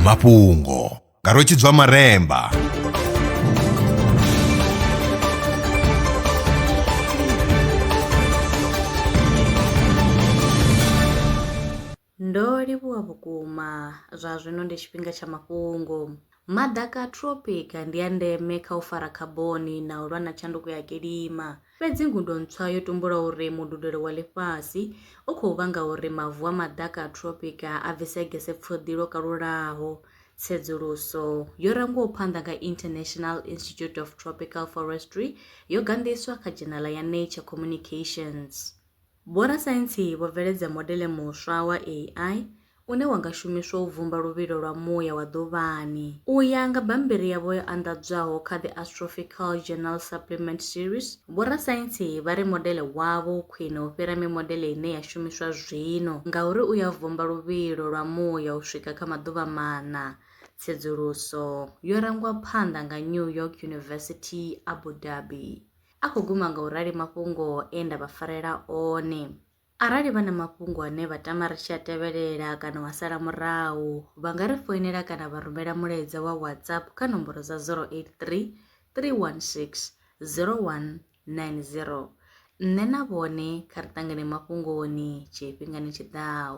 mafhungo nga rwetshidzwa maremba Ndo livhuwa vhukuma zwa zwino ndi tshifhinga tsha mafhungo. Maḓaka a tropic ndi a ndeme kha u fara khaboni na u lwa na tshanduko ya kilima. Fhedzi ngudo ntswa yo tumbula uri mududelo wa ḽifhasi u khou vhanga uri mavu a maḓaka a tropic a bvise gese pfuḓi lwo kalulaho. Tsedzuluso yo rangwaho phanḓa nga International Institute of Tropical Forestry yo ganḓiswa kha dzhenala ya Nature Communications. Vhorasaintsi vho bveledza modele muswa wa AI une wa nga shumiswa u vhumba luvhilo lwa muya wa ḓuvhani. U ya nga bammbiri yavho yo anḓadzwaho kha The Astrophical Journal Supplement Series, vhorasaintsi vha ri modele wavho u khwine u fhira mimodele ine ya shumiswa zwino ngauri u ya vhumba luvhilo lwa muya u swika kha maḓuvha maṋa. Tsedzuluso yo rangwa phanḓa nga New York University, Abu Dhabi. A khou guma nga u rali mafhungo e nda vha farela one. Arali vha na mafhungo ane vha tama ri tshi a tevhelela kana wa sala murahu, vha nga ri foinela kana vha rumela mulaedza wa WhatsApp kha nomboro dza 083 316 0190. Nṋe na vhone kha ri ṱangane mafhungoni tshifhingani tshi ḓaho.